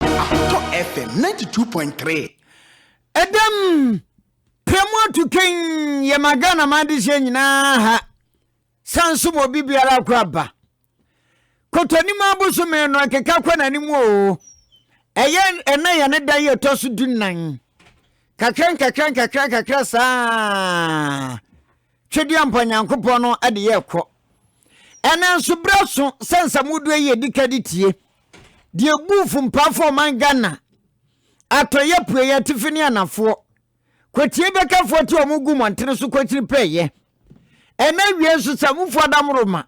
Ahotɔ FM ninety two point three. Ɛdɛm pɛ mu atu kɛn yɛ ma Ghana ma adi hyɛ nyinaa ha. San so ma obi biara akɔ aba. Kɔtɔnim abosome no ɛkeka kɔ n'anim o. Ɛyɛ ɛnɛ yɛ ne da yɛ tɔ so du nan. Kakra nkakra nkakra nkakra saa. Twedeɛmpa Nyankopɔn no de yɛɛ kɔ. Ɛnɛ nso berɛ so sɛ nsamuduɛ yi ɛdi ka de tie deɛ ɛbuu fumpaafo ɔman Ghana atɔeɛ apueɛ atifi ne anafoɔ kwatie bɛkafoɔ te wɔn gu mmɔntene so kɔkyiri pɛɛyɛ ɛnɛ awie nso samufoɔ adamoroma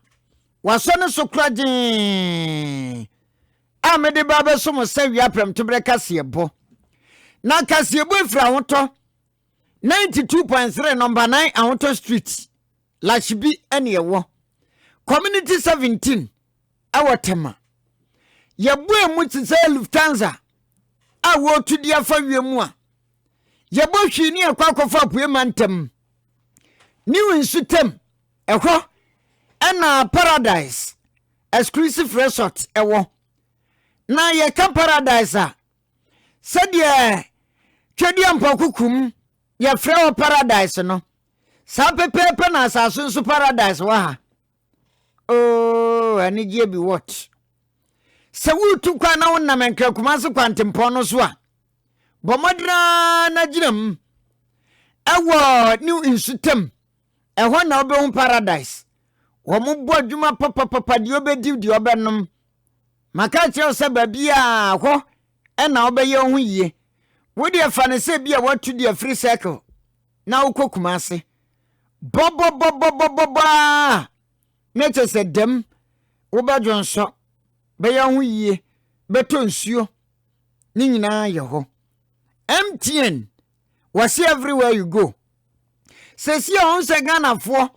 wasɔ ne so kora gyee a mede ba bɛso mo sɛ wia pɛmtoberɛ kaseɛbɔ na kaseɛbɔ ɛfiri ahotɔ ninety two point three nɔmba nine ahotɔ street lahyibi ɛne ɛwɔ community seventeen ɛwɔ tɛma yɛbue mu te sɛ lufthansa a wɔretu di afa wiem mu a yɛbɔ hwii ne ɛkɔ akɔfa apue ma ntɛm new nsu tɛm ɛhɔ ɛna paradise exclusive resort ɛwɔ na yɛka paradise a sɛdeɛ Twedeɛmpɔkokurom yɛfrɛ hɔ paradise no saa pɛpɛɛpɛ na asase nso paradise wɔ ha oo anigyeɛ bi what sɛ woretu kwan na wonam nkrakuma ase kwantempɔn no so a bɔ mmɔden ara na gyina mu ɛwɔ ne nsutam ɛhɔ na wobɛhu paradise wɔn bɔ adwuma papapapa deɛ ɔbɛdi deɛ ɔbɛnom Maka akyerɛ wo sɛ baabiaa hɔ na wobɛyɛ wo ho yie. Wo deɛ fa no sɛ bi a watu deɛ afiri circle na wokɔ Kumase. Bɔbɔbɔbɔbɔbɔbɔ aa na kyɛ sɛ dɛm wobɛdwonsɔ, bɛyɛ wo ho yie, bɛtɔ nsuo, ne nyinaa yɛ hɔ. MTN wɔse everywhere you go. Sɛsi a ɔhu sɛ Ghanafoɔ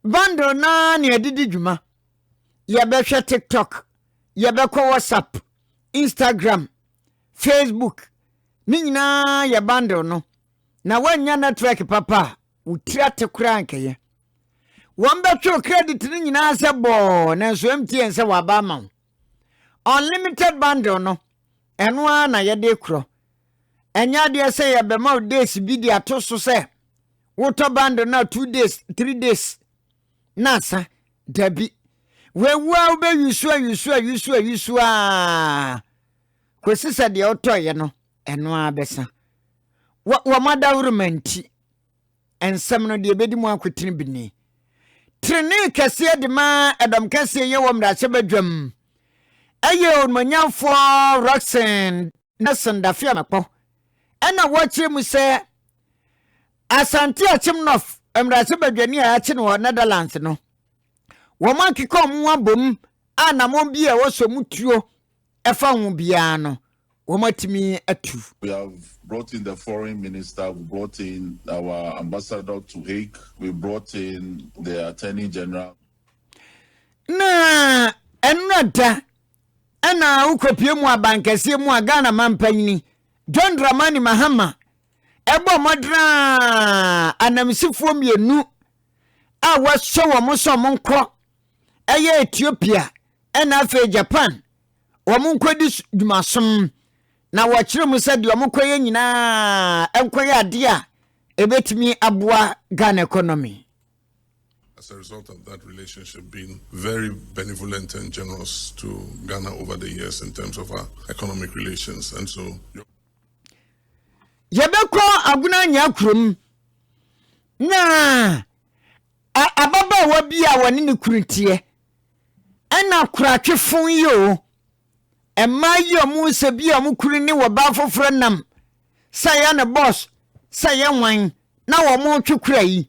bundle naa ne ɛde di dwuma. yɛbɛhwɛ tiktok yɛbɛkɔ whatsapp instagram facebook ne nyinaa yɛ bundle no na woannya network papa a wo tiri ate koraa nkɛyɛ wɔn bɛtwe credit no nyinaa sɛ bɔɔ nanso mtn sɛ waba ama wo unlimited bundle no ɛno ara na yɛde korɔ ɛnyɛ adeɛ sɛ yɛbɛma wo days bi de ato so sɛ wotɔ bundle no a two days three days na asa. Dabi. Wawu ara wobɛwisu awisu awisu awisu ara kɔsi sɛ deɛ wotɔeɛ no ɛno ara bɛsa. Wɔn adawuroma nti, nsɛm no deɛ ɛbɛdi mu akotene bi ni. Trenee kɛseɛ de ma ɛdɔm kɛseɛ yɛ wɔ mmarahyɛbadwam ɛyɛ onumonyamfoɔ Roxanne na Sandafia Makpɔ na wɔkyerɛ mu sɛ Asante Akyem North mmarahyɛ badwani a yɛakye no wɔ Netherlands no, wɔn akeka wɔn ho abom a namɔn bi a ɛwɔ sɛ wɔn tuo ɛfa ho biara no, wɔn atumi atu. We have brought in the foreign minister, we brought in our ambassador to Hague, we brought in the attorney general. Na ɛnora da Ɛna wokɔpue mu abankɛseɛ mu a Ghana manpanyini John Dramani Mahama ɛbɔ mmɔden a anamsifoɔ mmienu a wɔahyɛ wɔn sɛ wɔn nkɔ ɛyɛ Ethiopia ɛna afei Japan wɔn nkɔdi dwumasom na wɔkyerɛ mu sɛ deɛ wɔn kɔyɛ nyinaa nkɔyɛ adeɛ a ɛbɛtumi aboa Ghana economy. As a result of that relationship being very benevolent and generous to Ghana over the years in terms of our economic relations and so yɛbɛkɔ agona nya kurom na ababaawa bi a wɔne ne kunu teɛ ɛna koratwefo yi o mmaa yi a wɔn sɛ bi a wɔn kunu ne wɔbaa foforɔ nam sɛ yɛ ne bɔs sɛ yɛ nwan na wɔn twe kura yi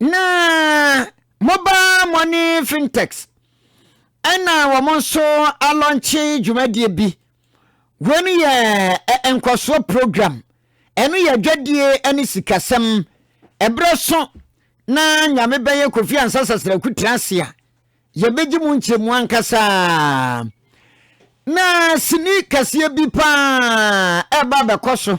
na mobile money fintechs ɛna wɔn nso alɔnkye dwumadie bi wei no yɛ nkɔsoɔ program ɛno yɛ adwadie ne sikasɛm ɛberɛ so na nyame bɛyɛ kofi ansa sasraku tena ase a yɛbɛgye mu nkyerɛmu ankasa na sini kɛseɛ bi paa ɛba bɛkɔ so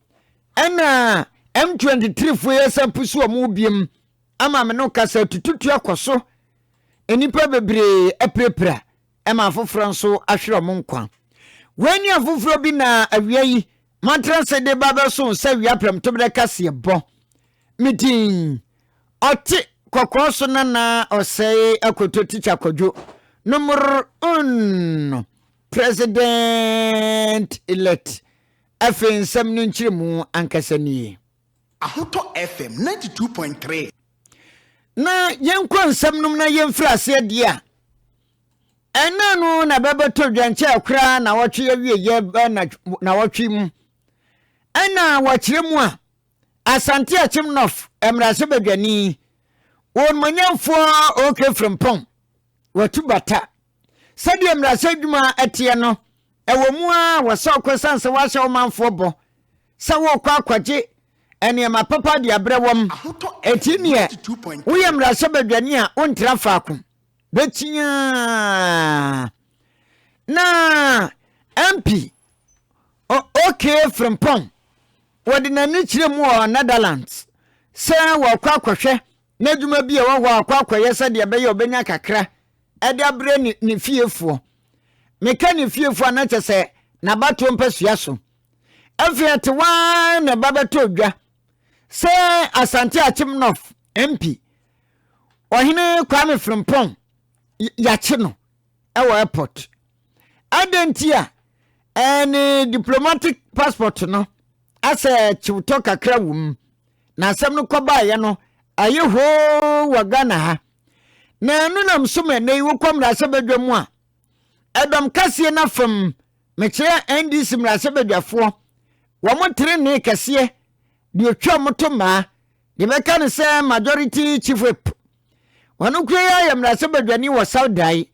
Ɛna M23 foɔ yɛ san pusu wɔn mu biom ama me no kasa tututu akɔ so. Nnipa bebree apirapira ɛma afoforɔ nso ahwere wɔn nkwa. Wei ne afoforɔ bi na awia yi matra se de ba bɛso nsa awia prɛmtoberɛ kaseɛ bɔ. Me din ɔte kɔkɔɔ so nana ɔsɛe akoto tikya kɔdwo no mor un no president elect Afei nsɛm no nkyerɛmu ankasa nie. Ahotɔ FM ninety two point three. Na yɛnkɔ nsɛm nom na yɛmfiri aseɛ deɛ a, ɛnna no na bɛbɛtɔ dwankyɛɛ koraa na wɔtwe awieɛ bɛ na na wɔtwe mu. Ɛnna wɔkyerɛ mu a, Asante Akyem North mmarahyɛbadwani, wɔn manyamfoɔ OK Frimpong, wɔatu bata. Sɛdeɛ mmarahyɛ adwuma teɛ no, ɛwɔ mu ara wɔhyɛ wo kɔ ɛsiane sɛ woahyɛ wo manfoɔ bɔ sɛ worekɔ akɔgye nneɛma papa de abrɛ wɔn. Enti neɛ woyɛ mmarahyɛbadwani a wontra faako, bɛkyia na MP OK Frimpong wɔde n'ani kyerɛ mu wɔ Netherlands sɛ wɔrekɔ akɔhwɛ N'adwuma bi a ɛwɔ hɔ a ɔkɔ akɔyɛ sɛdeɛ ɛbɛyɛ a ɔbɛnya kakra de abrɛ ne ne fiefoɔ. Meka ne fiefoɔ a na kyɛ sɛ n'abatoɔ mpasua so. Afei atewa ara na ɛba bɛtɔɔ dwa sɛ Asante Akyem North MP Ɔhene Kwame Frimpong yɛakye no wɔ airport. Adɛn nti a ɛɛ ne diplomatic passport no asɛ kyewtɔ kakra wɔ mu. na asɛm no kɔbaeɛ no ayɛ hoo wɔ ghana ha na ɛno nam so ma ɛnɛ yi wokɔ mmarahyɛbadwa mu a ɛdɔm kaseɛ no afam mekyerɛ ndc mmarahyɛbadwafoɔ wɔn tenenee kɛseɛ deɛ ɔtwa wɔn to mmaa deɛ bɛka no sɛ majority chief whip wɔn kura yi ayɛ mmarahyɛbadwani wɔ saudae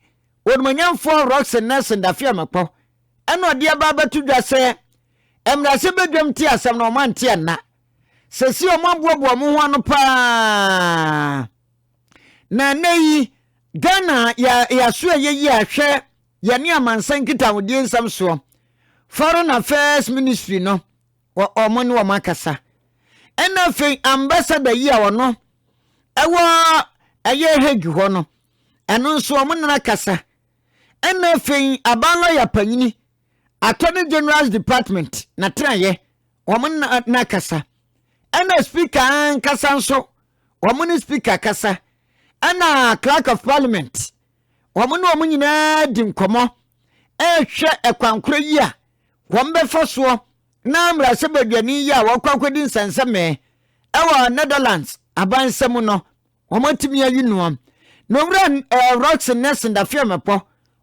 wɔnumanyamfoɔ roxy nelson dafeamakɔ ɛna ɔde aba abɛto dwa sɛ mmarahyɛbadwam te asɛm na wɔn ante ɛnna Seesei wɔaboaboa wɔn ho ano paa. Na ɛnɛ yi, Ghana yɛaso a yɛyi ahwɛ yɛne amansan nkitahodie nsɛm soɔ. Foreign Affairs Ministry no, wɔn ne wɔn akasa. Ɛna afei ambassador yi a ɔno ɛwɔ ɛyɛ Hague hɔ no, ɛno nso wɔn nana kasa. Ɛna afei aban lɔya panyini Attorney General's Department na tenayɛ wɔn nna no akasa. Ɛna speaker ankasa nso, wɔn ne speaker kasa. Ɛna clerk of parliament, wɔn ne wɔn nyinaa di nkɔmmɔ ɛrehwɛ ɛkwan korɔ yi a wɔn bɛfa soɔ na mmarahyɛ badwani yi a wɔkɔ akɔdi nsɛnsɛmɛɛ ɛwɔ Netherlands abansa mu no Wɔatumi ayi no a, na Owura eh, Roxy Nelson Dafeamekpɔ,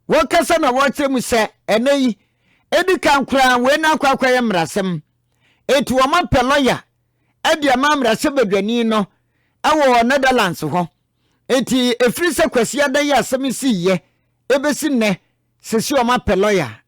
wɔkasa na wɔkyerɛ mu sɛ ɛnɛ yi, edi kan koraa wei na akɔ akɔyɛ mmarasɛm. Eti wɔapɛ lɔya de ama mmarahyɛbadwani no wɔ Netherlands hɔ. Eti efiri sɛ Kwasi Adan yi asɛm sii yɛ ebesi nnɛ, sisi wɔapɛ lɔya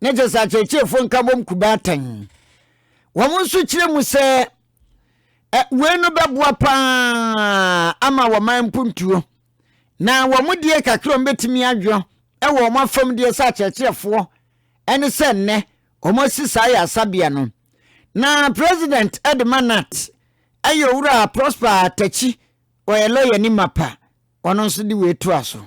na kyerɛ sɛ akyerɛkyerɛfoɔ nkabom kuba atɛn. Wɔn nso kyerɛ mu sɛ wei no bɛboa paa ama wɔman mpuntuo na wɔn deɛ kakra wɔn bɛtumi adwo wɔ wɔn afam deɛ sɛ akyerɛkyerɛfoɔ ɛne sɛ nnɛ wɔn asi saa yɛ asabea no na president ɛde ma nat ɛyɛ owura prosper atakyi ɔyɛ lɔya ni mapa ɔno nso de wei toa so.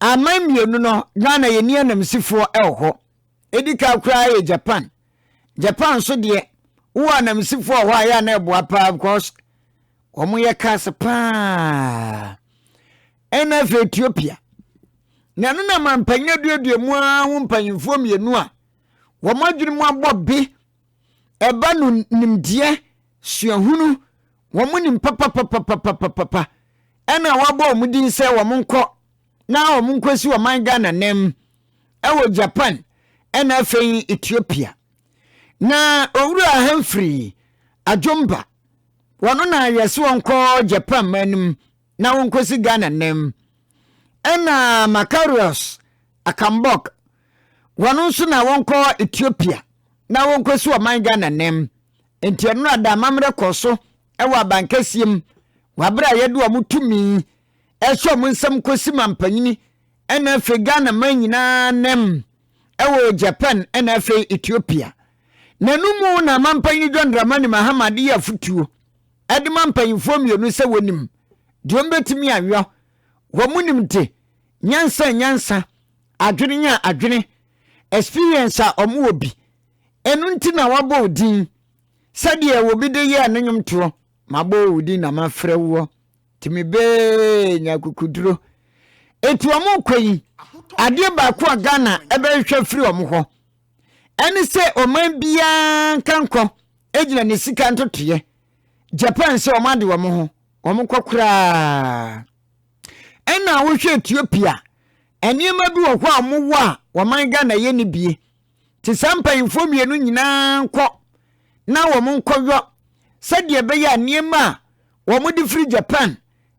Aman mmienu no, Ghana yɛnni anamsifoɔ wɔ hɔ. Ɛdi kan koraa yɛ Japan. Japan nso deɛ, wowɔ anamsifoɔ wɔ hɔ a, ɛyɛ a na ɛboa paa because wɔyɛ cars paa. Ɛna afei Ethiopia. Na ɛno na mampanyin aduadua mu ara ho mpanyinfoɔ mmienu a wɔn adwene mu abɔ be ɛba no nimdeɛ suahunu wɔn nim papapapapapapa ɛna wɔabɔ wɔn din sɛ wɔn nkɔ na wɔn nkɔ si wɔn ghana nam ɛwɔ japan ɛna afei ethiopia na owura hamfiri adwomba wɔn na yɛsi wɔn kɔ japan man no mu na wonkosi Ghana nnɛ mu. Ɛna Makarios Akambok, wɔn nso na wɔnkɔ Ethiopia na wonkosi ɔman Ghana nnɛ mu. Enti ɛno ada amammerɛ kɔɔ so wɔ abankɛseɛ mu wɔ berɛ a yɛde wɔn tumi ɛhyɛ wɔn nsam kɔsi mampanyini ɛna afei Ghana man nyinaa nam ɛwɔ Japan ɛna afei Ethiopia. N'ano mu na mampanyini John Dramani Mahama de yɛ afotuo. de ma mpanyimfoɔ mmienu sɛ wɔnim deɛ wɔbɛtumi ayɔ. Wɔn nimde, nyansa a nyansa, adwene a adwene, experience a wɔwɔ bi. Ɛno nti na wɔabɔ wo din sɛdeɛ obi de yɛɛ ne nnwomtoɔ. Mabɔ wo din na mafrɛ woɔ. Tumi bee nya kukuduro. Eti wɔn kɔ yi, adeɛ baako a Ghana ɛbɛhwehwɛ firi wɔn hɔ. ɛne sɛ ɔman biara nkankɔ gyina ne sika ntotoeɛ japan sɛ wɔn ade wɔn ho wɔn kɔ koraa ɛna wohwɛ ethiopia nneɛma bi wɔ hɔ a wɔwɔ a wɔman ghana yɛ ne bie te saa mpanyinfoɔ mmienu nyinaa nkɔ na wɔn nkɔyɔ sɛdeɛ ɛbɛyɛ a nneɛma a wɔn de firi japan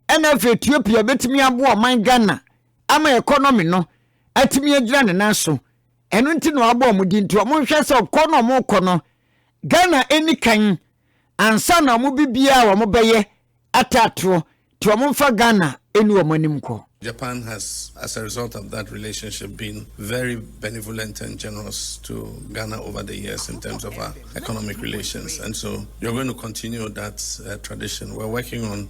ɛna afei ethiopia bɛtumi aboa ɔman ghana ama ɛkɔnɔmi no atumi agyina ne nan so Ɛno nti na wɔabɔ wɔn din. Nti wɔnhwɛ sɛ ɔkɔ na wɔkɔ no, Ghana ɛni kan ansa na wɔn bibiaa wɔbɛyɛ atɛ atorɔ. Nti wɔmfa Ghana ɛni wɔn anim nkɔ. Japan has as a result of that relationship been very benevolent and generous to Ghana over the years in terms of our economic relations and so you're going to continue that uh, tradition. We're working on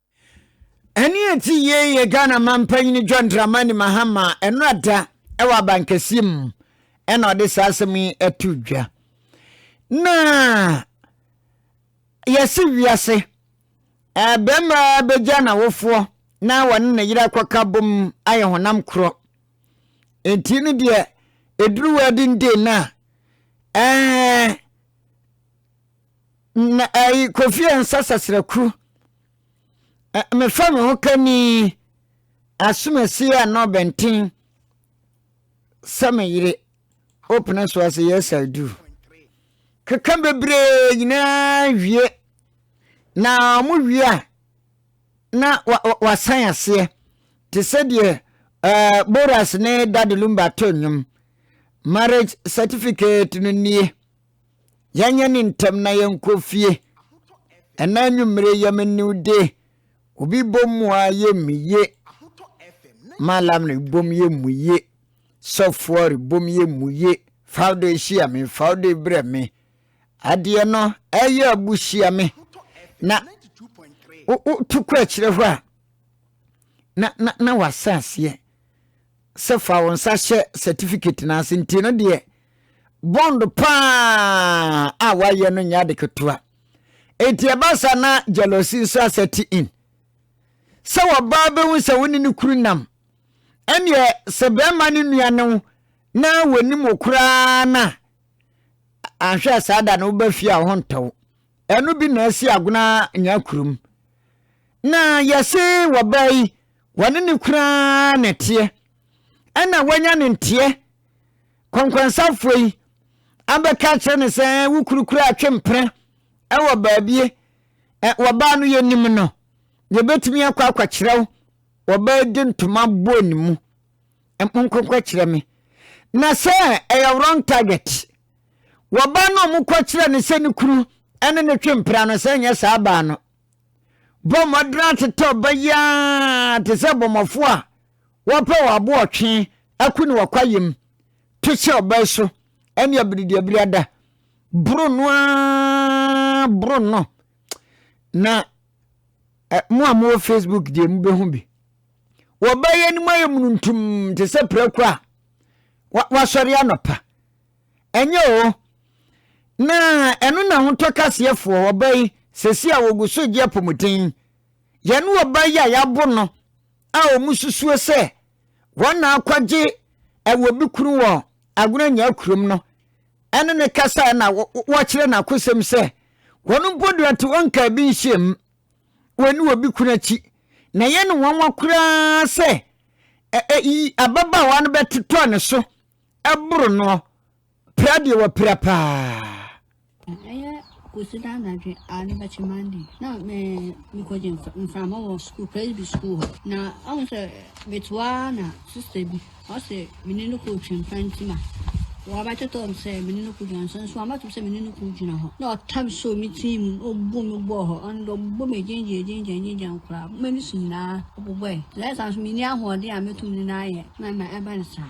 Ɛne ɛte yei yɛ Ghana manpanyin John Dramani Mahama ɛnora da ɛwɔ abankɛseɛ mu ɛna ɔde saa asɛm yi ɛto dwa. Na yɛse wiase ɛbɛma bɛgya n'awofoɔ na wɔne ne yere akɔka bom ayɛ honam korɔ. Enti no deɛ ɛduru wɔ adindin no a ɛɛ Na ɛyi kofi nsa sasraku. Mefa me ho kani asomasi a na ɔbɛnten sɛ me yere opene so ase yes I do. Keka bebree nyinaa wie na wɔn wie a na wasan aseɛ te sɛ deɛ uh, Boras ne Dade Lumba to nnwom marriage certificate no nie yɛnyɛ ne ntɛm na yɛnkɔ fie ɛna anwummere yɛm new day obi bom mu a yɛ mu ye malam no bom yɛ mu ye sɔfoɔ rebom yɛ mu ye fawdo ahyia me fawdo brɛ me adeɛ no ɛyɛ abuhyia me na wotu kɔ akyirɛ hɔ a na na na wasaseɛ sɛ fa wo nsa hyɛ certificate no ase nti no deɛ bond paa a wayɛ no nyɛ ade ketewa enti ɛba sa na jealousy nso asɛte in sɛ wɔbaa bɛhu sɛ wo ne ne kuru nam ɛneɛ sɛ bɛrima ne nua ne wo na wɔnim wo koraa no a anhwɛ a saa da no woba fie a ho ntɔ wo ɛno bi na asi agona nya kurom na yɛse wɔbaa yi Wɔne no koraa na ɛteɛ. Ɛnna wɔanya ne nteɛ. Kɔnkɔnsafoɔ yi abɛka akyerɛ no sɛ, Ɛɛ, wo kuru kura atwempena wɔ baabie. Ɛ, wɔbaa no, yɛnim no. Yɛbɛtumi akɔ akɔkyerɛ wo. Wɔbaa de ntoma bɔɔ ne mu. Ɛ, monkɔnkɔ kyerɛ me. Na sɛ ɛyɛ wrong target. Wɔbaa no a wɔkɔkyerɛ no sɛ ne kuru ne ne twempena no, sɛ ɛnyɛ saa baa no, Bɔ mmɔden atetɛ ɔba yi ara te sɛ bɔmmɔfoɔ a wɔpɛ wɔn aboɔtwe ako ne wɔkwayam. To hyɛ ɔba yi so ɛne abiridiabiri ada. Boro no ara boro no na eh, mo a mowɔ facebook deɛ mobɛhu bi wɔba yi anim ayɛ mununtum te sɛ prako a wasɔre anɔpa Ɛnyɛ oo. Na ɛno na ahotɔ kaseɛfoɔ ɔba yi sɛsi a wɔgu so gye apɔmuden. Yɛne ɔba yi a yɛabo no a wɔn susuo sɛ wɔn na akɔgye ɛwɔ bi kunu wɔ agona nyaa kurom no ɛne ne kasa na wɔkyerɛ n'akosɛm sɛ wɔn mpo deɛ ɔte wɔn nkaa bi nhyiam wɔn ne obi kunu akyi na ɛyɛ ne nwanwa koraa sɛ ɛyi ababaawa no bɛtotɔ ne so boro no pira deɛ wapira paa. ɛyɛ kɔsi da anadwe a ne bɛkye mande na mekɔgye mframa wɔ sukuu presby sukuu hɔ na ɔhu sɛ metoaa na sista bi ɔsɛ mene no kɔɔ twampa nti ma wɔabɛtotɔ m sɛ mene no kɔgyina nso nso amatom sɛ mene no kɔgyina hɔ na ɔtam sɛ me tii mu ɔbu me bɔɔ hɔ ɔno dɛ ɔbɔ me gyengye gyengye gyengye nkoraa mani so nyinaa ɔbobɔe lɛsa nso menni ahoɔden a mɛtum ne no ayɛ na ma ɛba ne saa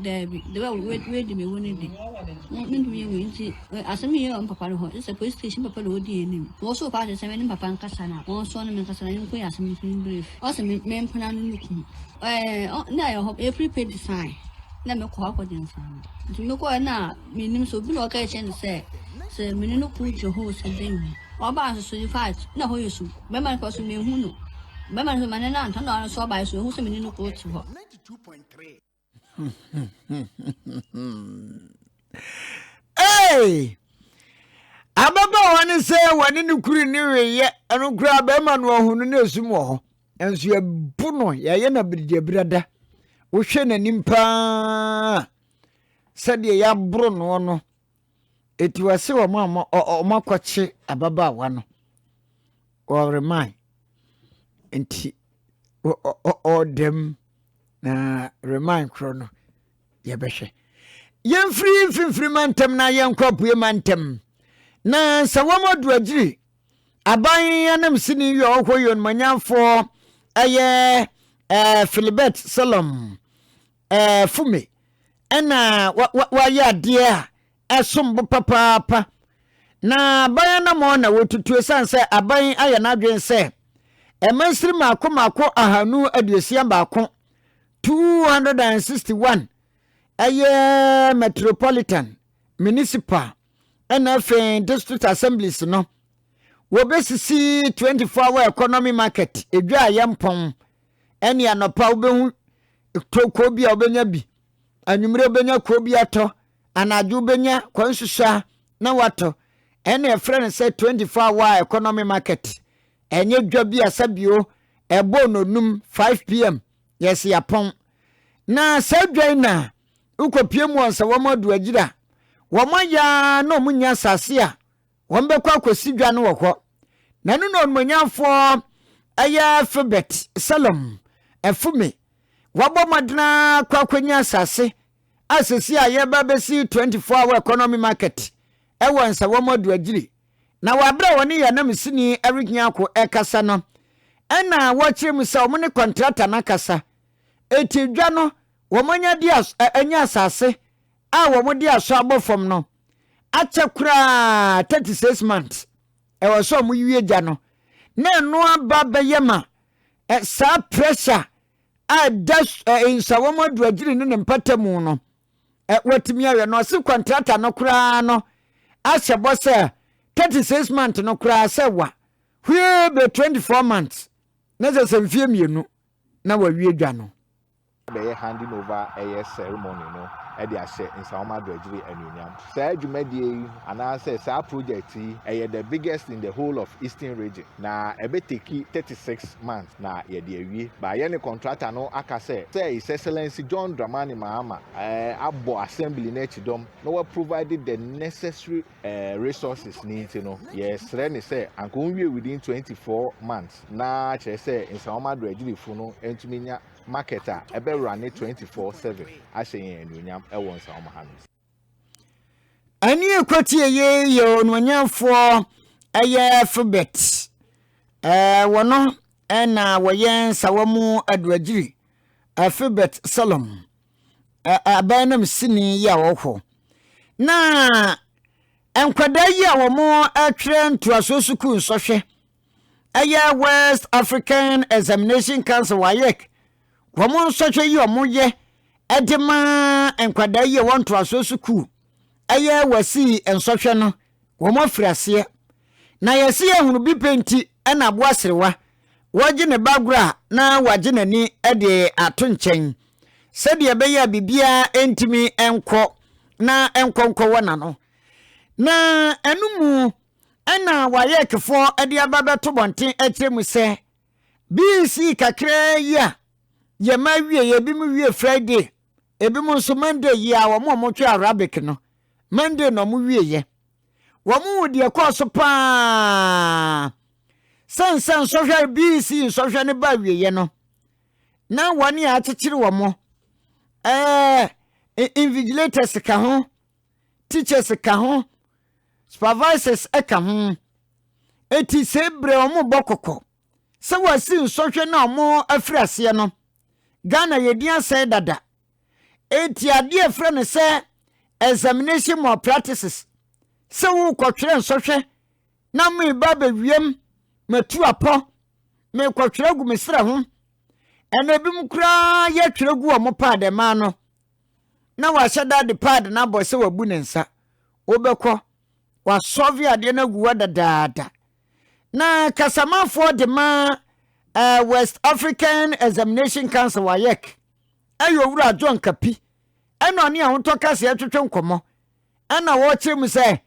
Daabi, the way we we di me wo ne di. Me me ntumi yɛ wei nti eh, asɛm yi yɛ wɔn papa no hɔ. Ɛsɛ police station papa na odi anim. Wɔn so paa sɛ me ne papa nkasa na wɔn so ne me nkasa na yɛn ko yɛ asɛm yi fun bref. Ɔsɛ me me mpena no ne kun. Ɛɛ ɔ na yɛ hɔ efiri pay design na me kɔ akɔ gyina saa no. Nti me kɔ na me nim so bi na ɔka kyerɛ no sɛ sɛ me ne no ko gyina hɔ sɛ dɛn mu. Ɔbaa nso so in fact na hɔ yɛ so. Bɛma no kɔ so me hu no. Bɛma no so ma ne nan tɔ na ɔno so ɔbaa so ehu sɛ me ne no ko te hɔ. hey! ababaawa ne sɛ wɔne no kuru ne weyɛ ɛno koraa bɛrima no ɔhono no ɛsum wɔ hɔ nso yɛbo no yɛayɛ no abiridiabirada wohwɛ n'anim paa sɛdeɛ yɛaboro noɔ no Enti wɔse wɔn a wɔakɔkye ababaawa no, wɔreman. Enti ɔda mu na reman korɔ no yɛbɛhwɛ. Yɛmfiri mfimfiri mantam na yɛnkɔ apue mantam. Na sɛ wɔn aduagyiri aban anam sini yɛ ɔhɔ yɛ onumanyamfoɔ ɛyɛ ɛɛ filibɛt sɛlɔm ɛɛ fo me ɛna wa wa wayɛ adeɛ a ɛsom bo papaapa na aban anamɔ na wɔtutu ɛsiane sɛ aban ayɛ n'adwene sɛ ɛmansiri mako mako ahanu aduosia baako 261 ɛyɛ metropolitan municipal ɛna afei district assemblies no wɔbɛsisi 24 hour economy market ɛdwa a yɛmpɔn ɛne anɔpa wobɛhu tɔ kuo bi a wobɛnya bi anwummerɛ wobɛnya kuo bi atɔ anadwo wobɛnya kwan susaa na watɔ ɛne ɛfrɛ no sɛ 24 hour economy market ɛnyɛ dwa bi a sɛbio ɛbɔ nonum 5 pm yɛsi apɔn na saa dwa yi na wokɔpie mu wɔn sɛ wɔn adu agyira wɔn ayɛ na wɔn nya asase a Wɔbɛkɔ akɔsi dwa no wɔ hɔ. Na ɛno na Onuonyamfoɔ ɛyɛ Filbert Salom Afume, wabɔ mmɔden akɔ akɔnya asase a seesei a yɛreba abɛsi 24 hour economy market ɛwɔ Nsawam Adu-Agyiri. Na wɔ aberɛ a wɔne yɛn anamsini Eric Nyarko ɛrekasa no, ɛna wɔkyerɛ mu sɛ wɔne kɔntrata no akasa. Enti dwa no wɔanya di as ɛ anya asase a wɔde asɔ abɔ fam no, akyɛ koraa 36 months ɛwɔ sɛ ɔmo wie gya no na ɛno aba bɛyɛ ma ɛ saa pressure a ɛda ɛ nsawam aduagyiri ne ne mpata mu no ɛ wɔtumi ayɛ no ɔsi kɔntrata no koraa no ahyɛ bɔ sɛ 36 months no koraa sɛ wa hwie bɛ 24 months na sɛ sɛ mfie mmienu na wawie dwa no. bɛyɛ handing over ɛyɛ ceremony no de ahyɛ nsawoma abrɛgyere anuonyam. Saa dwumadie yi anaasɛ saa project yi ɛyɛ the biggest in the whole of eastern region na ɛbɛ teki thirty six months na yɛde awie but yɛne contractor no aka sɛ sɛ His Excellency John Dramani Mahama ɛɛ abɔ assembly no akyi dɔm na wa provide the necessary ɛɛ resources ne nti no yɛsrɛ ne sɛ anka ɔnwie within twenty four months na kyerɛ sɛ nsawoma abrɛgyerefo no ntumi nya Market a ɛbɛwura ne twenty four seven ahyɛ yɛn anuonyam wɔ nsawam ha no. Ɛne ɛkwatie yi yɛ onuonyamfoɔ ɛyɛ Filbert ɛɛ wɔ no ɛna wɔyɛ nsawa mu aduagyiri ɛɛ Filbert Solom ɛɛ abɛn nam sini yi a ɔwɔ hɔ na nkwadaa yi a wɔn ɛtwerɛ ntoasoɔ sukuu nsɔhwɛ ɛyɛ west african examination council wayɛk wɔn nsɔhwɛ yi wɔn yɛ ɛde ma nkwadaa yi a wɔn ntoasoɔ sukuu ɛyɛ wɔsi nsɔhwɛ no wɔn afiri aseɛ na yɛsi ehunu bi pɛ nti ɛna aboa serewa wɔgye ne ba agorɔ a na wɔagye n'ani ɛde ato nkyɛn sɛdeɛ ɛbɛyɛ a biribiara ntumi nkɔ na nkɔnkɔ wɔ n'ano na ɛno mu. Ɛna Wayɛkfoɔ de aba bɛto bɔnten akyerɛ mu sɛ, BC kakraa yi a yɛma awie yɛ ebi mu wie Friday, ebi mu nso Monday yi a wɔn a wɔtwe Arabic no, Monday na wɔn wie yɛ. Wɔn hu deɛ ɛkɔɔ so paa sɛ nsɛ nsɔhwɛ BC nsɔhwɛ no ba awieɛ no, na wɔn a akyekyere wɔn ɛɛ invigilators ka ho, teachers ka ho, supervisors ka ho. Eti sɛ ebrɛ wɔn bɔ kɔkɔ sɛ wɔasi nsɔhwɛ na wɔn afiri aseɛ no, Ghana yɛ din asɛe dada. Eti adeɛ ɛfrɛ no sɛ examination malpractices sɛ wokɔtwerɛ nsɔhwɛ na meba abɛwiam matu apɔ mekɔtwerɛ gu me serɛ ho ɛna ebinom koraa yɛtwerɛ gu wɔn paa dɛmaa no na wahyɛ da de paad no abɔ sɛ wabu ne nsa. Wobɛkɔ, wasɔve adeɛ no agu hɔ dadaada. Na kasamafoɔ de ma uh, West African Examination Council, WAEC, ɛyɛ owura John Kapi, ɛna ɔne ahotɔ kaseɛ twetwe nkɔmmɔ, ɛna wɔkyerɛ mu sɛ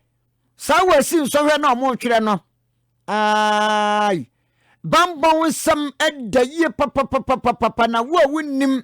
saa wɔasi nsɔhwɛ na wɔretwerɛ no ai bambɔ nsɛm da yie papapapapapa na wo a wonnim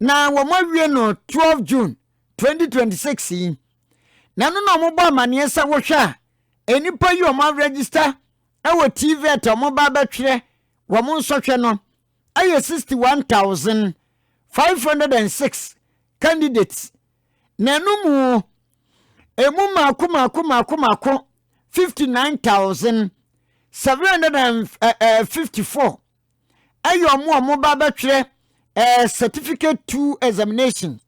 na wɔawie no twelve June twenty twenty six yi, na ɛno na wɔbɔ amaneɛ sɛ wohwɛ a nnipa yi a wɔaregister wɔ TVET a wɔba abɛtwerɛ wɔn nsɔhwɛ no yɛ sixty one thousand five hundred and six candidates na ɛno mu emu mako mako mako mako fifty nine thousand seven hundred and eh, eh, fifty four. ɛyɛ wɔn a wɔba bɛtwerɛ ɛɛ eh, certificate two examination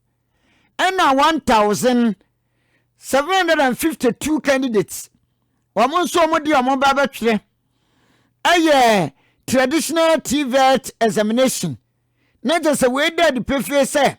ɛna one thousand seven hundred and fifty two candidates wɔn nso wɔn deɛ wɔn ba bɛtwerɛ ɛyɛ traditional tvet examination na kyerɛ sɛ wei da adi pefee sɛ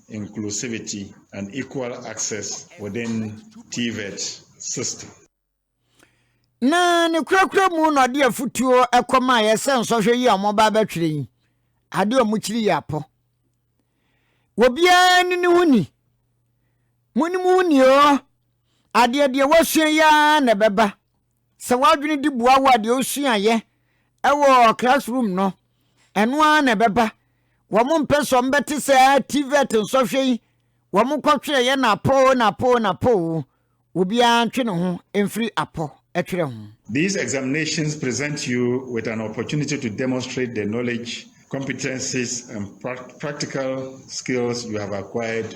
inclusivity and equal access within TVET system. Na ne kurakura mu na ɔde afutuo kɔmaeɛ sɛ nsɔhwɛ yi a wɔba abɛtwerɛ yi ade a wɔkyiri yɛ apɔ obiara ne ne ho ni mo ne mo ho ni o adeɛ deɛ wasua yi ara na ɛbɛba Sɛ w'adwene di boa wo a deɛ wosuaeɛ wɔ classroom no, ɛno ara na ɛbɛba. Wɔn mpɛ sɛ wɔbɛte saa TVET nsɔhwɛ yi, wɔn kɔtwerɛeɛ na apɔ o na apɔ o na apɔ o. Obiara ntwe ne ho mfiri apɔ twerɛ ho. These examinations present you with an opportunity to demonstrate the knowledge, competencies and practical skills you have acquired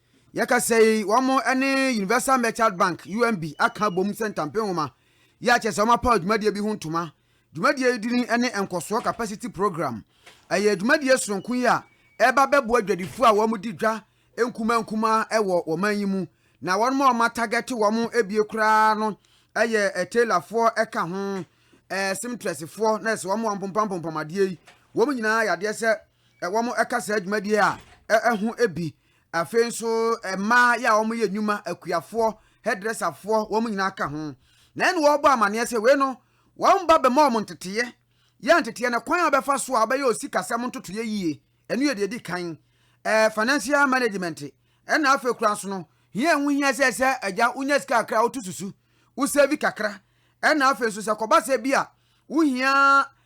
Yɛkasa yi, wɔne Universal Merchant Bank, UMB, aka abom sɛ ntampe nwoma yi akyerɛ sɛ wɔapaw dwumadie bi ho ntoma. Dwumadie yi din ne Nkɔsoɔ Capacity Programme. Ɛyɛ dwumadie sononko yi a ɛreba abɛboa dwadifoɔ a wɔdi dwa nkumaa nkumaa wɔ wɔn man yi mu, na wɔn a wɔatagɛte wɔn bie koraa no yɛ tailorfoɔ ka ho, seamtressfoɔ, nɛɛse, wɔn a wɔpompapompam adeɛ yi, wɔn nyinaa yɛ adeɛ sɛ wɔka saa dwumadie a ɛho bi Afei nso mmaa yɛ a wɔn yɛ nnwuma, akuafoɔ, hairdresserfoɔ, wɔn nyinaa ka ho. Na ɛne wɔrebɔ amaneɛ sɛ wei no wɔn ba bɛma wɔn nteteɛ, yɛ nteteɛ na kwan a wɔbɛfa so a wɔbɛyɛ osikasɛm ntotoeɛ yie, ɛno yɛ deɛ ɛdi kan, ɛɛ financial management. Ɛna afei koraa nso no, hia ɛho hia sɛ sɛ agya wonya sika kakra a woto susu, wo save kakra. Ɛna afei nso sɛ kɔba sɛ bi a wohia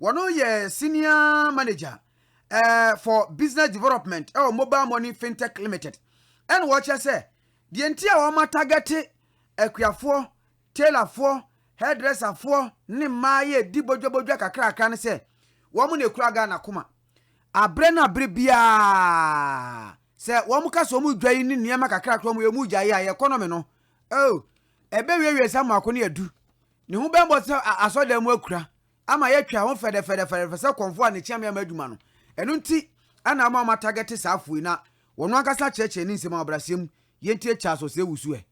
Wɔno yɛ Senior Manager for Business Development wɔ Mobile Money Fintech Limited ɛna ɔkyerɛ sɛ deɛ nti a wɔn atagɛte akuafoɔ, tailorfoɔ, hairdresserfoɔ ne mmaa yɛ di bodwabodwa kakrakra ne sɛ wɔn na ɛkura Ghana koma aberɛ na aberɛ biara sɛ wɔn ka sɛ wɔn dwa yi ne nneɛma kakrakra wɔn yɛ wɔn gyae a yɛ kɔnɔme no oh ɛbɛwiewie sa mmoako ne adu ne ho bɛmmɔ sɛ asɔdan mu akura ama yɛatwa ho fɛdɛfɛdɛfɛdɛfɛ sɛ kɔmfo a ne kyeame ama adwuma no. Ɛno nti na ama wɔatagɛte saa afo yi na wɔn ankasa kyerɛkyerɛ ne nsɛm a ɔbrasɛe mu, Yɛntie Charles Osei Wusu ɛ.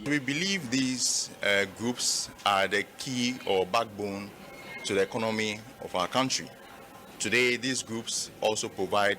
We believe these groups are the key or backbone to the economy of our country. Today these groups also provide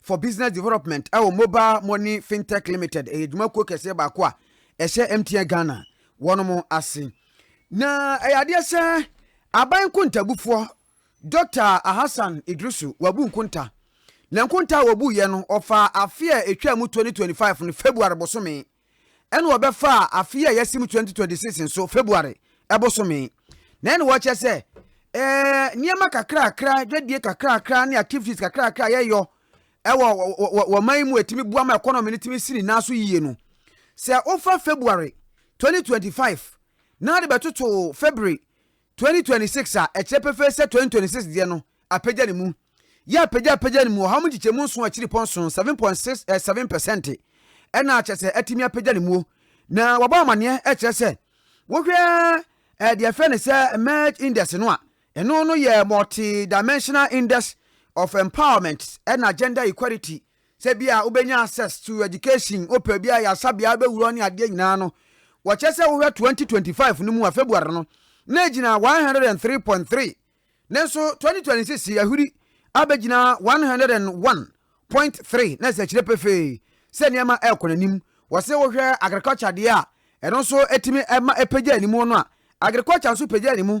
for Business Development wɔ Mobile Money Fintech Limited, ɛyɛ dwumakuo kɛseɛ baako a ɛhyɛ MTN Ghana wɔnom ase. Na ɛyɛ adeɛ sɛ aban nkontabufoɔ Dɔkta Ahasan Idrisu wabu nkonta. Na nkonta a wɔbuiɛ no, ɔfaa afe a ɛtwaa mu 2025 no February bosome. Ɛnna wɔbɛfaa afe a yɛasi mu 2026 nso, February bosome. Na ɛnna wɔkyerɛ sɛ, eh, nneɛma kakrakra, dwadie kakrakra ne activities kakrakra a yɛyɔ wɔ wɔ wɔ man yi mu a ɛtumi boa ma economy no tumi si ne nan so yie no. Sɛ wofa February 2025 na de bɛtoto February 2026 a ɛkyerɛ pefee sɛ 2026 deɛ no apagya ne mu yɛ apagyaapagya ne mu ɔhaw mu nkyekyɛmu nson akyiripɔ nson, 7.67 pɛsɛnte, ɛna kyerɛ sɛ atumi apagya ne muo. Na wɔabɔ amaneɛ kyerɛ sɛ wohwɛ deɛ ɛfrɛ ne sɛ merge index no a, ɛno no yɛ multidimensional index of empowerment ɛna gender equality Sɛ bi a wobɛnya access to education wopɛ bi a ayarsabea a wobɛwura hɔ ne adeɛ nyinaa no wɔkyɛ sɛ wohwɛ 2025 no mu a February no na ɛgyina 103.3 nanso 2026 yi ahuri abɛgyina 101.3 na ɛsɛ kyerɛ pefee sɛ nneɛma ɛrekɔ n'anim wɔse wohwɛ agriculture deɛ a ɛno nso ɛtumi ɛma ɛpagya animuo no a agriculture nso pagya animu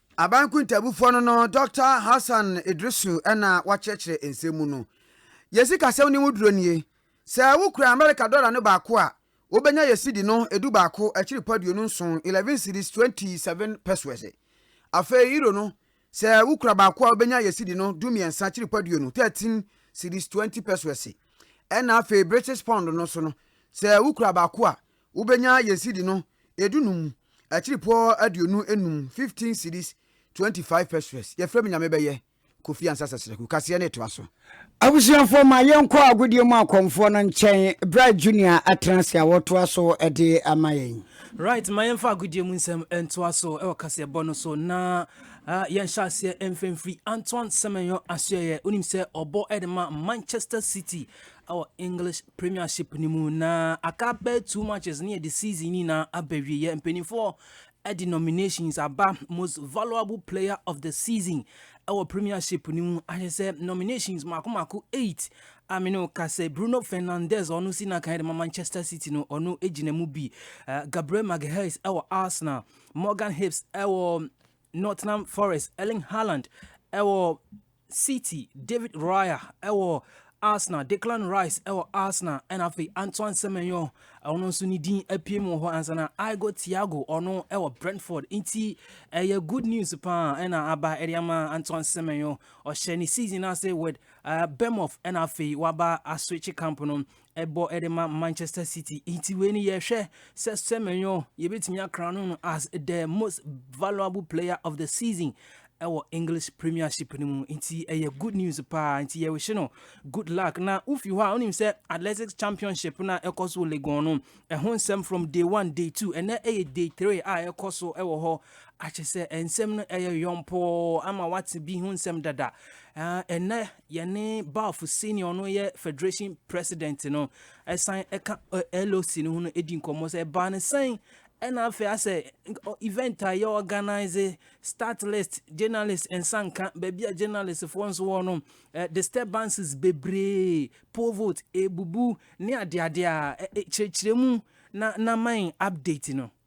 Aban Kuntabufoɔ no no Dɔkta Hassan Idrisu na wakyerɛkyerɛ nsɛm mu no. Yɛn sikasɛm no mu duro nie, Sɛ wokura Amerika dɔla no baako a, wobɛnya yɛn sidi no du baako akyiri pa aduonu nson, eleven cedis, twenty seven pesewas. Afei Euro no, sɛ wokura baako a wobɛnya yɛn sidi no du mmiɛnsa akyiri pa aduonu, thirteen cedis, twenty pesewas. Ɛna afei British Pound no nso no, sɛ wokura baako a, Wobenya yɛn cedi no edu num, akyiripɔɔ aduonu enum, fifteen cedis, twenty five peseres, yɛfrɛ me Nyame bɛyɛ, Kofi Ansah Sasraku, kaseɛ no etoa so. Abusuafoɔ ma yɛnkɔ agodie mu akɔmfoɔ no nkyɛn, Bright Junior atena ase a ɔretoa so de ama yɛn. Right, ma yɛmfa agodie mu nsɛm ntoa so wɔ kaseɛbɔ no so na yɛnhyɛ aseɛ mfa mfiri Antoine Semenyo Asoɛeɛ, wonim sɛ ɔbɔ de ma Manchester City ɛwɔ English Premiership no mu na aka bɛyɛ two matches ne yɛde season yi na abɛwieɛ mpanimfoɔ de nominations aba most valuable player of the season ɛwɔ Premiership no mu ahyɛ sɛ nominations mako mako eight a me ne ka sɛ Bruno Fernandes ɔno si na kan de ma Manchester City no ɔno gyina mu bi eh, Gabriel Magalhaes ɛwɔ Arsenal Morgan Hibbs ɛwɔ Nottingham Forest Erling Haaland ɛwɔ City, David Raya wɔ Arsenal, Declan Rice wɔ Arsenal, ɛna afei Antoine Semenyo ɔno nso ne din apue mu wɔ hɔ ansa na Igo Thiago ɔno wɔ Brentford. Nti ɛyɛ good news paa ɛna aba ɛde ama Antoine Semenyo. Ɔhyɛ ne season ase with uh, Bournemouth ɛna afei waba aswitch camp no ɛbɔ de ma Manchester City. Nti wei ni yɛhwɛ sɛ Semenyo yɛbɛtumi akra no no as the most valuable player of the season ɛwɔ English Premiership no mu. Nti ɛyɛ good news paa. Nti yɛwehye no good luck. Na wofi hɔ a wonim sɛ Athletics Championship no a ɛkɔ so Legon no ɛho nsɛm from day one day two ɛnɛ ɛyɛ day three a ɛkɔ so ɛwɔ hɔ akyɛ sɛ nsɛm no ɛyɛ yɔmpɔɔ ama wate bi ho nsɛm dada ɛnɛ Yɛne Balf senior ɔno yɛ federation president no ɛsan ɛka LOC no ho no ɛdi nkɔmmɔ sɛ ɛbaa no sɛn ɛna afei asɛ event a yɛ organize start list journalist nsa nka baabi a journalist foɔ nso wɔ no disturbances bebree poll vote ebubu ne adeade a kyerɛkyerɛ mu na na man update no.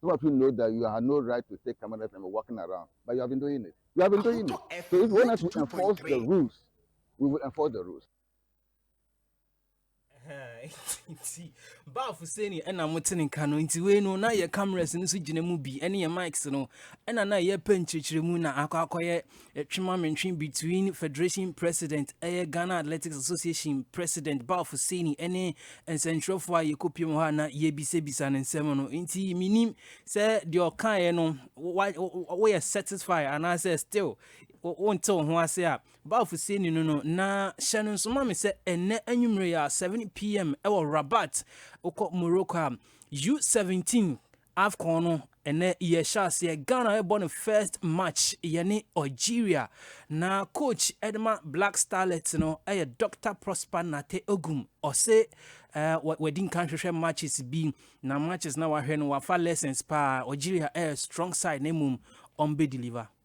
Some of you know that you had no right to take cameras and be walking around, but you have been doing it. You have been doing it. So if you want us to enforce the rules, we will enforce the rules. nti baafo sɛ ni ɛna mote ne nka no nti wei no na yɛ cameras no so gyina mu bi ɛne yɛ mics no ɛna na yɛpɛ nkyerɛkyerɛ mu na akɔ akɔyɛ Twema Mentwe between Federation President ɛyɛ Ghana Athletics Association President Balfo Seni ɛne nsɛnkyerɛfoɔ a yɛkɔpiam hɔ a na yɛbisabisa no nsɛm no nti menim sɛ deɛ ɔkaeɛ no woyɛ satisfy anaasɛ still wonte wo ho ase a Balfo Seni no no na hyɛ no nso ma me sɛ ɛnɛ anwummerɛ yɛ 7pm ɛwɔ Rabat wokɔ Morocco a U17 Afcon no ɛnɛ yɛ hyɛ aseɛ Ghana ɛbɔ ne first match yɛne Algeria na coach ɛde ma Black Starlets no ɛyɛ Dr Prosper Nate Ogum ɔse ɛɛ wadi nkan hwehwɛ matches bi na matches na wahwɛ no wafa lessons paa Algeria ɛyɛ strong side na mmom ɔmbɛ deliver.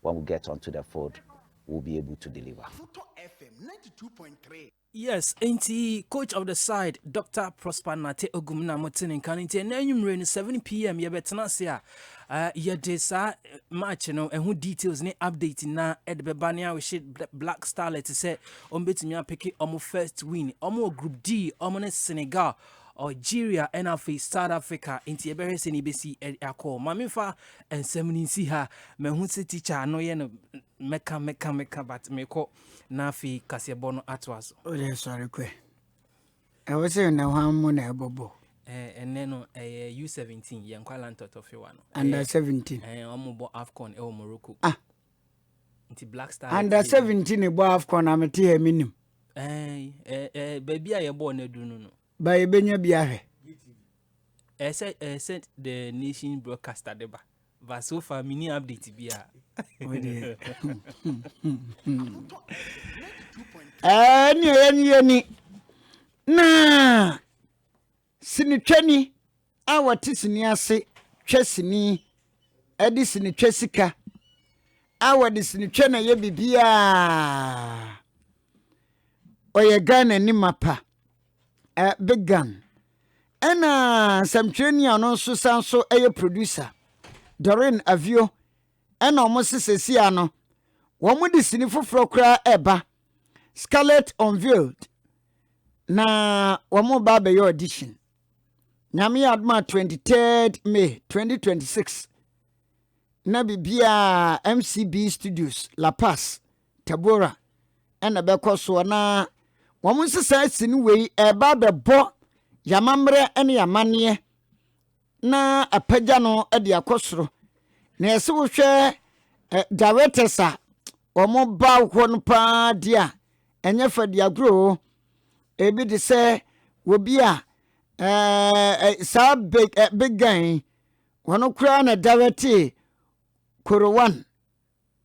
when we get onto the field we'll be able to deliver. Yes, nti coach of the side Dr. Prosper Nate Ogum na mo te ne nka no nti ɛnɛ anwummere no 7 pm yɛbɛtena ase a uh, yɛde saa eh, match no ɛho eh, details ne update na ɛde eh, bɛba ne ahwehye Black Starlet sɛ ɔmbɛtumi apeke ɔmo first win ɔmo wɔ group D ɔmo ne Senegal Algeria ɛna afei South Africa nti yɛbɛhwɛ sɛ ne bɛsi akɔ ma memfa nsɛm no nsi ha mahu sɛ tikya no yɛ no mɛka mɛka mɛka but mekɔ na afei kaseɛbɔ no atoa so wode sɔre kɔ ɛwɔ sɛ na hwan mu na ɛbɔbɔ ɛnɛ no ɛyɛ u17 yɛnkwa lantɔtɔfewa no under 17 ɔmobɔ afcon ɛwɔ morocco ah nti black star under seventeen ebɔ afcon na mete ha mi nim. ɛɛ ɛɛ ɛɛ baabi a yɛbɔ ɔna du no no. ba yɛbɛnya bi ahwɛ. ɛsɛ ɛsɛ the nation broadcaster de ba but so far mini update bi a. ɛɛ ni ɛyɛ ni yɛ ni naa. Sinitwani a ɔte sini ase twa sini de sinitwa sika a wɔde sinitwa na ɛyɛ biribiara. Ɔyɛ Ghanani mapa, eh, Big Gun. Ɛna nsɛmtwerɛni a ɔno nso san so yɛ producer, Doreen Avio, ɛna wɔn sesɛsi ano. Wɔn de sini foforɔ koraa ɛba. scarlet unveiled na wɔn ba abɛyɛ audition nyame yɛ adoma 23rd may 2026 na biribiaa mcb studios la paz tabora ɛna bɛkɔ soɔ na wɔn nsesaa si no wei ɛba bɛbɔ yɛamammerɛ ne yɛamanneɛ na apagya no de akɔ soro na ɛsɛ wohwɛ eh, directors a wɔn ba hɔ no paa di a ɛnyɛ fa di agorɔ o ebi te sɛ obi a eh, eh, saa big eh, big guy wɔn koraa na directee korowan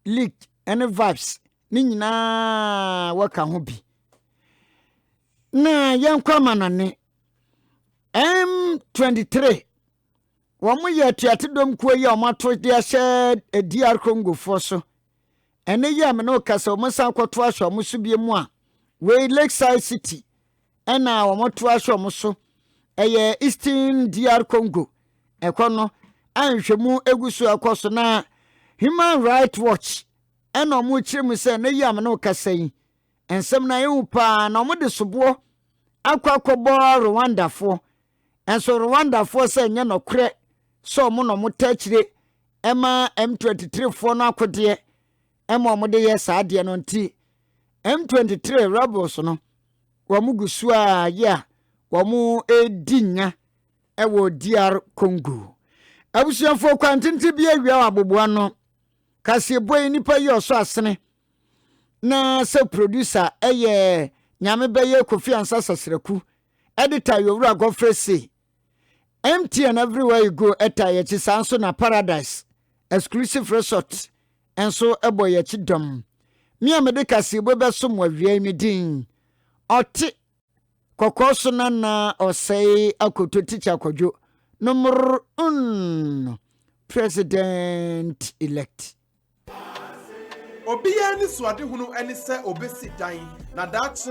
lick ne vibes ne nyinaa wɔka ho bi na yɛnkɔ amanɔne m23 wɔn yɛ atuate dɔm kuo yi a wɔn ato de ahyɛ eh, dr congofoɔ so ɛne yɛ a mene ɔkasa wɔn san kɔto ahyɛ wɔn so bie mu a wei lakeside city Ɛna wɔtoa so wɔn so ɛyɛ Eastern DR Congo ɛkɔ no a nhwɛmu egu so ɛkɔ so na Human Rights Watch ɛna wɔn kyerɛ mu sɛ na yi a mene kasa yi nsɛm na ehu paa na wɔn de soboɔ akɔ akɔbɔ Rwandafoɔ ɛnso Rwandafoɔ sɛ nyɛ nɔkorɛ sɛ wɔn na wɔn tɛkyire ɛma M23 foɔ no akodeɛ ɛma wɔn de yɛ saa adeɛ no nti M23 rebels no wɔn gu so a yɛ a wɔn redi nya wɔ DR Congo abusuafoɔ kwantenten bi awia wɔ aboboa no kaseɛbɔ yi nipa yi ɔsɔ asene na sɛ producer ɛyɛ nyame bɛyɛ kofi ansa sasraku editor yowura gɔfrɛ sei MTN everywhere you go ɛta yɛkyi saa nso na paradise exclusive resort nso ɛbɔ yɛkyi dɔm me a mede kaseɛbɔ bɛsom wawia yi me din ɔte kɔkɔɔ so nana ɔsɛe akoto tikya kɔdwo no mmoro mm president elect Obiara ne suadehunu ne sɛ obesi dan, na daakye.